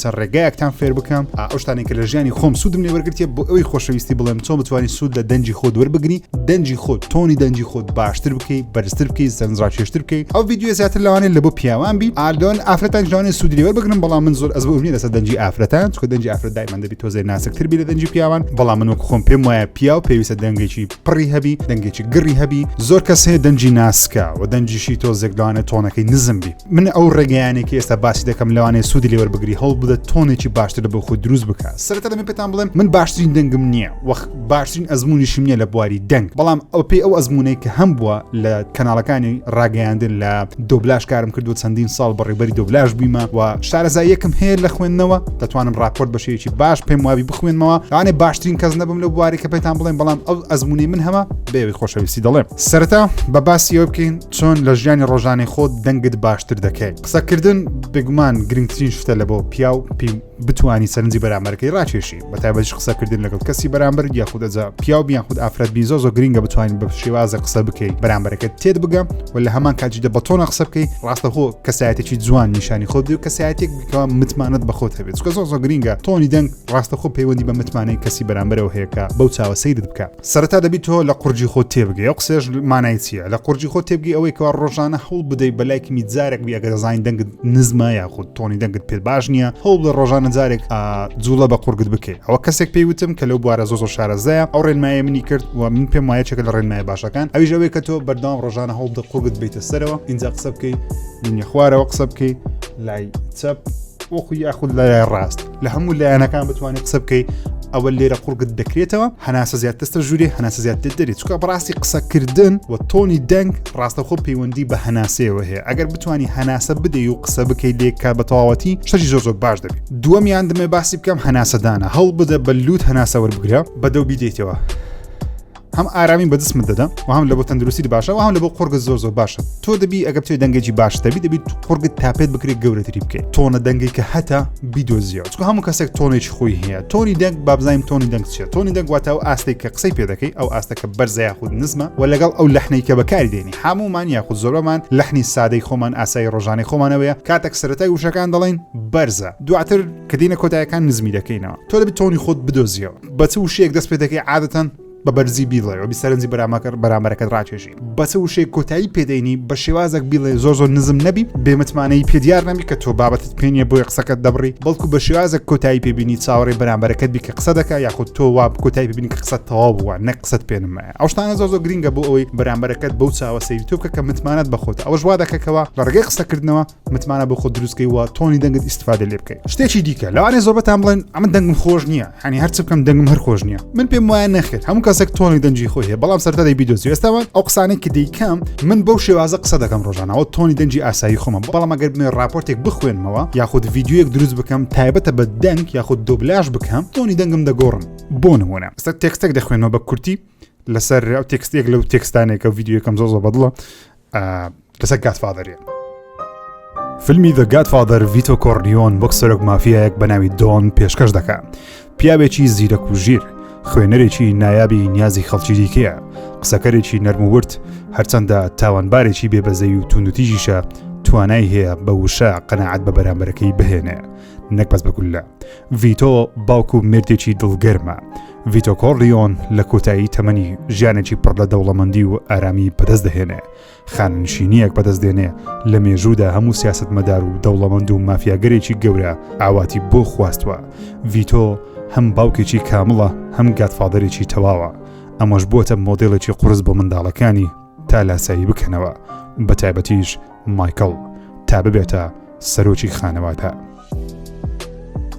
چەند ڕێگایەکتان فێر بکەم ئا ئەو شتانەی کە لە ژیانی خۆم سوودم لێ وەرگرتیە بۆ ئەوی خۆشەویستی بڵێم چۆن بتوانانی سوود لە دەنگی خۆت وەربگری دەنگی خۆت تۆنی دەنگی خۆت باشتر بکەی بەرزتر بکەی سەرنجڕاکێشتر بکەی ئەو ڤیدیۆ زیاتر لەوانەیە لە بۆ پیاوان بی ئالۆن ئافرەتان جوانێ سوودی لێ وەربگرن بەڵام من زۆر ئەزموونم نیە لەسەر دەنگی ئافرەتان چونکە دەنگی ئافرەت دایمەن دەبی تۆزێ ناسکتر بی لە دەنگی پیاوان بەڵام من وەک خۆم پێم وایە پیاو پێویستە دەنگێکی پڕی هەبی دەنگێکی گڕی هەبی زۆر کەس هەیە دەنگی ناسکە و دەنگیشی تۆزێک لەوانە تۆنەکەی نزم بی من ئەو ڕێگەیانێک ئێستا باسی دەکەم لەوانێ سوودی لێوەر بگری هەڵ بدە تۆنێکی باشتر لە بۆ خۆ دروست بکە سەرەتا دەمە پێتان بڵێم من باشترین دەنگم نییە وەخت باشترین ئەزمموونیشم نیە لە بواری دەنگ بەڵام ئەو پێی ئەو ئەزمموونەی کە هەم بووە لە کەناڵەکانی ڕاگەیاندن لە دۆبلاش کارم کردو چەندین ساڵ بەڕێبەری دۆبلاش بیمە و شارەزاییەکم هەیە لە خوێندنەوە دەتوانم راپۆرت بەشێکی باش پێم وابی بخوێنمەوە لەوانێ باشترین کەس نەبم لە بواری کە پێتان بڵێن بەڵام ئەو ئەزمموونەی من هەمە بێوی خۆشەویستی دەڵێم سەرەتا بە باسی ئەو بکەین چۆن لە ژیانی ڕۆژانەی خۆت دەنگت باشتر دەکەیت قسەکردن بگومان گرنگترین شتە لە بۆ پیا و پی بتانی سەرنجی بەرامەرەکەی ڕاکێشی بە تایبەتش قسەکردن لەگەڵ کەسی بەرامبەر یاخودەجا پیا و بیان خود ئافرەت بی زۆ زۆ گرنگە بتوانین بە شێوازە قسە بکەیت بەرامبەرەکەت تێت بگە و لە هەمان کاتی دە بەتۆنە قسە بکەیت ڕاستە هۆ کەسایەتێکی جوان نیشانی خۆت و کەسایەتێک بکەوە متمانەت بەخۆت هەبێت کە زۆ زۆ گرنگە تۆنی دەنگ ڕاستەخۆ پەیوەندی بە متمانەی کەسی بەرامبەرەوە هەیەکە بەو چاوە سەیرت بکە سەرەتا دەبی تۆ لە قورجی خۆت تێبگەی ئەو قسێش مانای چییە لە قورجی خۆ تێبگەی ئەوەی کەوا ڕۆژانە هەوڵ بدەی بەلایکی میجارێک بی ئەگەر دەزانین دەنگت نزمە یاخود تۆنی دەنگت پێت باش نییە هەوڵ بە ڕۆژانە جارێک جوڵە بە قورگت بکەی ئەوە کەسێک پێی وتم کە لەو بوارە زۆ شارەزەیە ئەو ڕێنمایە منی کرد و من پێم وایە چێکە لە ڕێنمای باشەکان ئەویش ئەوەیە کە تۆ بەردام ڕۆژانە هەوڵ دە قورگت بیتە سەرەوە اینجا قسە بکەی دنیە خوارەوە قسە بکەی لای چەپ وەخو یاخود لای ڕاست لە هەموو لایەنەکان بتوانێت قسە بکەی ئەوە لێرە قوڕگت دەکرێتەوە هەناسە زیاتەستە ژووری هەناسە زیات دەدەێت چکە بڕاستی قسەکردن و تۆنی دەنگ ڕاستەخۆ پەیوەندی بە هەناسەیەوە هەیە ئەگەر بتانی هەناسە بدەی و قسە بکەیت لێکا بە تەواوەتی شەژی زۆر زۆر باش دەبێت دووەمیان دمێ باسی بکەم هەناسەدانە هەڵ بدە بە لووت هەناسە وەربگرە بەدەو بیدەیتەوە هەم ئارامی بە جسمت دەدا و هەم لە بۆ تەندروستی باشە و هەم لە بۆ قۆرگە زۆر زۆر باشە تۆ دەبی ئەگە بتێ دەنگێکی باش دەبی دەبیت قۆرگت تاپێت بکرێت گەورەتری بکەیت تۆنە دەنگی کە هەتا بیدۆزیەوە چکە هەموو کەسێک تۆنێکی خۆی هەیە تۆنی دەنگ بابزانین تۆنی دەنگ چێت تۆنی دەنگواتە و ئاستێک کە قسەی پێ دەکەی ئەو ئاستەکە بەرزای خود نزمە و لەگەڵ ئەو لەحنەی کە بەکاری دێنی هەمومان یاخود زۆربەمان لەحنی سادەی خۆمان ئاسایی ڕۆژانی خۆمانەوەیە کاتێک سەرەتای وشەکان دەڵین بەرزە دواتر کە دینە کۆتایەکان نزمی دەکەینەوە تۆ دەبی تۆنی خۆت بدۆزیەوە بە چ وشەیەک دەست پێ دەکەی عادەتەن بە بەرزی بیڵێ و بیسەرنجی بەرامەکە بەرامەرەکەت ڕاکێشی بە چ وشەی کۆتایی پێدەینی بە شێوازێک بیڵێ زۆر زۆر نزم نەبی بێمتمانەی پێدیار نەبی کە تۆ بابەتت پێنیە بۆی قسەکەت دەبڕی بەڵکو بە شێوازێک کۆتایی پێبینی چاوەڕێ بەرامبەرەکەت بی کە قسە دەکە یاخود تۆ وا کۆتایی ببینی کە قسە تەواو بووە نە قسەت پێنمایە ئەوشتانە زۆر زۆر گرنگە بۆ ئەوەی بەرامبەرەکەت بەو چاوە سەیری تۆ بکە کە متمانەت بەخۆت ئەوەش وا دەکەکەوە لە ڕگەی قسەکردنەوە متمانە بۆ خۆ دروستکەی وە تۆنی دەنگت ئیسفادە لێ بکەیت شتێکی دیکە لەوانێ زۆربەتان بڵێن ئەمە دەنگم خۆش نییە هەنی هەرچ بکەم دەنگم هەر خۆش نییە من پێم وایە نەخێت هەموو کەسێک تۆنی دەنجی خۆی هەیە بەڵام سەرتادەی بیدۆزی ئێستاوە ئەو قسانێک کە دەیکەم من بەو شێوازە قسە دەکەم ڕۆژانەوە تۆنی دەنجی ئاسایی خۆمە بەڵام ئەگەر بنێ راپۆرتێک بخوێنمەوە یاخود یددیوەک دروست بکەم تایبەتە بە دەنگ یاخود دۆبلاش بکەم تۆنی دەنگم دەگۆڕم بۆ نمونە سەر تێکستێک دەخوێنەوە بە کورتی لەسەر ئەو تێکستێک لەو تێکستانێکە و یددیوەکەم زۆ زۆ بەدڵە لەسەر گاتفادەرێ فیلمی دە گاتفادەر ڤیتۆ کۆرنیۆن وەک سەرۆک مافیایەک بە ناوی دۆن پێشکەش دەکە پیاوێکی زیرەک و ژیر خوێنەرێکی نایابی نیازی خەڵکی دیکەیە قسەکەرێکی نەرمورد هەرچەندە تاوانبارێکی بێبەزەی و توندتیژیشە توانای هەیە بە وشە قەنەعات بە بەرامبەرەکەی بهێنێ نەک بەس بەگولە ڤیتۆ باوک و مردێکی دڵگەرمە ڤیتۆ کۆرلیۆن لە کۆتایی تەمەنی ژیانێکی پڕ لە دەوڵەمەندی و ئارامی بەدەست دەهێنێ خاننشینیەک بەدەست دێنێ لە مێژوودا هەموو سیاست مەدار و دەوڵەمەند و مافیاگەرێکی گەورە ئاواتی بۆ خواستوە ڤیتۆ هەم باوکێکی کامڵە هەم گاتفادەرێکی تەواوە ئەمەش بووە مۆدلێکی قرس بۆ منداڵەکانی تا لاسایی بکەنەوە بە تایبەتیش مایکل تا ببێتە سەرۆکی خانەوادە.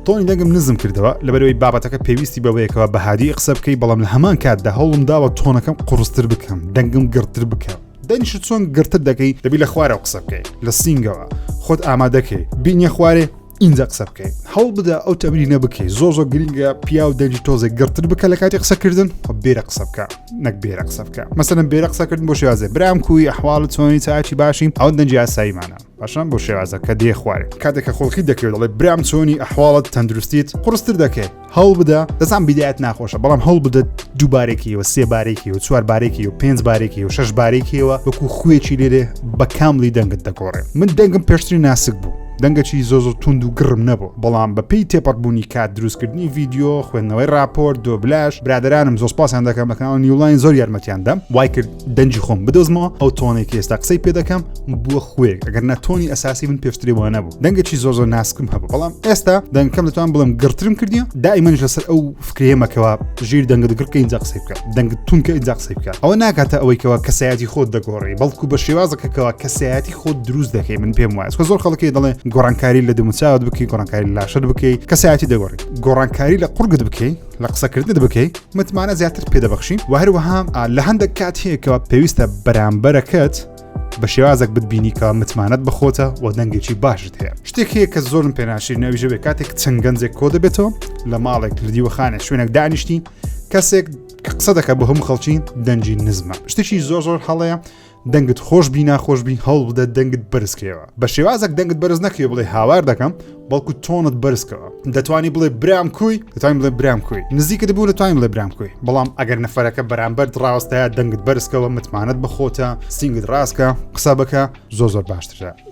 تۆنی دەنگم نزم کردەوە لەبەرەوەی بابەتەکە پێویستی بەوەیەکەوە بە هادی قسە بکەی بەڵام لە هەمان کاتدا هەوڵم داوە تۆنەکەم قڕستر بکەم دەنگم گرتر بکەم دەنیش چۆن گرتر دەکەی دەبی لە خوارەوە قسە بکەیت لە سینگەوە خۆت ئامادەکەی بینە خوارێ ئینجا قسە بکەین هەوڵ بدە ئەو تەمرینە بکەی زۆر زۆر گرنگە پیاو دەنج تۆزێک گرتن بکە لە کاتی قسەکردن خۆ بێرە قسە بکە نەک بێرە قسە بکە مەسەن بێرە قسەکردن بۆ شێوازێ برام کوی ئەحواڵ چۆنی چاچی باشین ئەو دەنج یاساییمانە باشان بۆ شێوازە کە دێ خوارێ کاتێکە خۆڵکی دەکرێت دەڵێ برام چۆنی ئەحواڵت تەندروستیت قڕستر دەکەێت هەوڵ بدە دەزان بیدایەت ناخۆشە بەڵام هەوڵ بدەت دووبارێکیەوە سێ بارێکیەوە چوار بارێکی و پێنج بارێکی و شش بارێکیەوە وەکو خوێکی لێرێ بە کاملی دەنگت دەگۆڕێ من دەنگم پێشتری ناسک بوو دەنگەکی زۆ زۆر تونند و گڕم نەبوو بەڵام بەپی تێپەڕبوونی کات دروستکردنی ڤیددیو خوێندنەوەی راپۆرت دۆبلاش برادرانم زۆسپاسیان دەکەم بەکەناڵ نیولاین زۆر یارمەتیان دەم وای کرد دەنجی خۆم بدۆزمەوە ئەو تۆنێک ئێستا قسەی پێ دەکەم بووە خوێک ئەگەر ناتۆنی ئەساسی من پێشتری وە نەبوو دەنگەکی زۆر زۆر ناسکم هەبوو بەڵام ئێستا دەنگکەم دەتوان بڵم گرترم کردیە دائیمەنش لەسەر ئەو فکرێمەکەەوە ژیر دەنگە دەگرکە ئینجا قسەی بکە دەنگ تونکە ئینجا قسەی بکە ئەوە ناکاتە ئەوەیکەوە کەسایەتی خۆت دەگۆڕی بەڵکو بە شێوازەکەکەەوە کەسایەتی خۆت دروست دەکەی من پێم وایە زۆر خەڵکی دەڵێ گۆڕانکاری لە دەموچاوت بکەی گۆڕانکاری لاشت بکەی کەسایەتی دەگۆڕی گۆڕانکاری لە قڕگت بکەی لە قسەکردنت بکەی متمانە زیاتر پێدەبخشین و هەروەها لە هەندێک کات هەیەکەوە پێویستە بەرامبەرەکەت بە شێوازێک بتبینی کە متمانەت بخۆتە و دەنگێکی باشت هەیە شتێک هەیە کە زۆرم پێناشی ناویژەوێ کاتێک چەند گەنجێک کۆ دەبێتەوە لە ماڵێک لە دیوەخانە شوێنێک دانیشتی کەسێک قسە دەکە بۆ هەم خەڵکی دەنجی نزمە شتێکی زۆر زۆر هەڵەیە دەنگت خۆش بی ناخۆش بی هەوڵبدە دەنگت بەرزکەوە بە شێوازێک دەنگت بەرز نەکەێ بڵێ هاوار دەکەم بەڵکو تۆنت بەرزکەوە دەتوانی بڵێ برام کوی دەتوانین بڵێ برام کوی نزیکت بوو دەتوانین بڵێ برام کوی بەڵام ئەگەر نەفرەکە بەرامبەر ڕاستەیە دەنگت بەرزکەوە متمانەت بەخۆتە سنگت ڕاستکە قسە بکە زۆ زۆر باشترە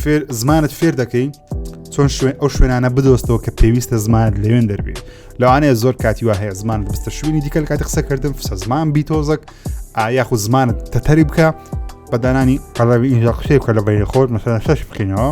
فێر زمانت فێر دەکەی چۆن شوێن ئەو شوێنانە بدۆستەوە کە پێویستە زمانت لەوێن دەربێت لەوانەیە زۆر کاتی وا هەیە زمان بستە شوێنی دیکە لە کاتی قسەکردن فسە زمان بیتۆزەک ئایاخود زمانت تەتەری بکە بەدانانی قەڵەوی ئینجا قسەی بکە لە بەین خۆت مەسەر شەش بکەینەوە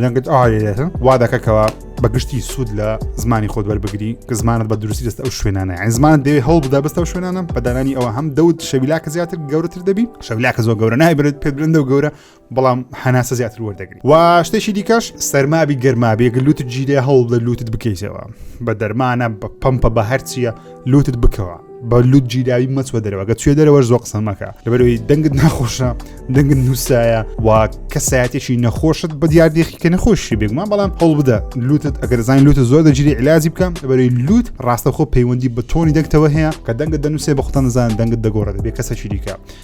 لەگەت ئاێتن وا دەکەکەوە بەگشتی سوود لە زمانی خۆت وەربگری کە زمانت بە دروستی دەست ئەو شوێنانە ئەین زمان دەوێت هەڵ بدا بستەوە شوێنانم بەدانانی ئەوە هەم دەوت شەویلاکە زیاتر گەورەتر دەبی شەویلاکە زۆر گەورە نایبرێت پێ برندە و گەورە بەڵام هەناسە زیاتر وەردەگری و شتێکی دیکەش سەرمابی گەرمابێک لوتت جیرێ هەوڵ لە لوتت بکەیتەوە بە دەرمانە بە پمپە بە هەرچیە لوتت بکەوە بە لوت جیراوی مەچوە دەرەوەگە توێ دەرەوە زۆ قسەمەکە لەبەرەوەی دەنگت ناخۆشە دەنگت نووسایە و کەسایەتێکی نەخۆشت بە دیاردێکی کە نەخۆشی بێگومان بەڵام هەڵ بدە لوتت ئەگەرزانانی لوتە زۆر دەجیری علاجی بکەم لەبەرەوەی لوت ڕاستەخۆ پەیوەندی بە تۆنی دەکتەوە هەیە کە دەنگت دەنووسێ بە خۆتان نزان دەنگت دەگۆڕێت بێ کەسەکی دیکە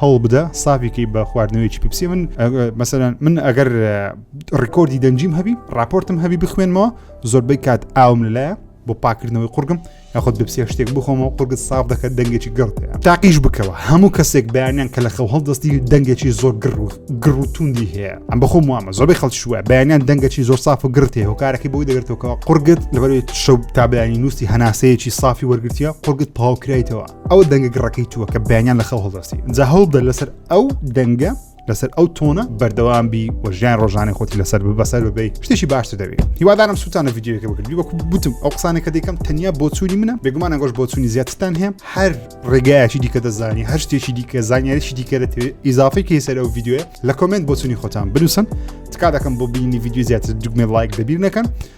هەوڵبدە سابی کەی بە خواردنەوەیەکی پیپسی من مەسەرەن من ئەگەر ڕیکۆردی دەنجیم هەبی راپۆرتم هەبی بخوێنمەوە زۆربەی کات ئاوم لەلایە بۆ پاکردنەوەی قورگم یاخود بپسیە شتێک بخۆمەوە قورگت ساف دەکەن دەنگێکی گڕتەیە تاقیش بکەوە هەموو کەسێک بەیانیان کە لە خەو هەڵدەستی دەنگێکی زۆر گڕ و گڕ و توندی هەیە ئەم بەخۆم وامە زۆربەی خەڵشوە بەیانیان دەنگەکی زۆر ساف و گرتێ هۆکارەکەی بۆی دەگرتەوەکەەوە قورگت لەبەر شەو تابیانی نووسی هەناسەیەکی سافی وەرگتیە قورگت پاوکرایتەوە ئەو دەنگە گڕەکەی تووە کە بەیانیان لە خەو هەڵدەستی جا هەوڵدە لەسەر ئەو دەنگە لەسەر ئەو تۆنە بەردەوام بی و ژیان ڕۆژانە خۆتی لەسەر بەسەر ببیت شتێکی باشتر دەبێت هیوادارم سووتانە یددیوەکە بکردی وەکو بتم ئەو قسانێکە دەکەم تەنیا بۆچووی منە بێگومان ئەگۆش بۆچوونی زیاتتان هەیە هەر ڕێگایکی دیکە دەزانی هەر شتێکی دیکە زانیاریی دیکە دەتەوێت ئیزافی کەی سەر ئەو یددیوە لە کۆمنت بۆچوونی خۆتان بنووسن تکا دەکەم بۆ بینی یددیو زیاتر دوگمێ لایک دەبیر نەکەن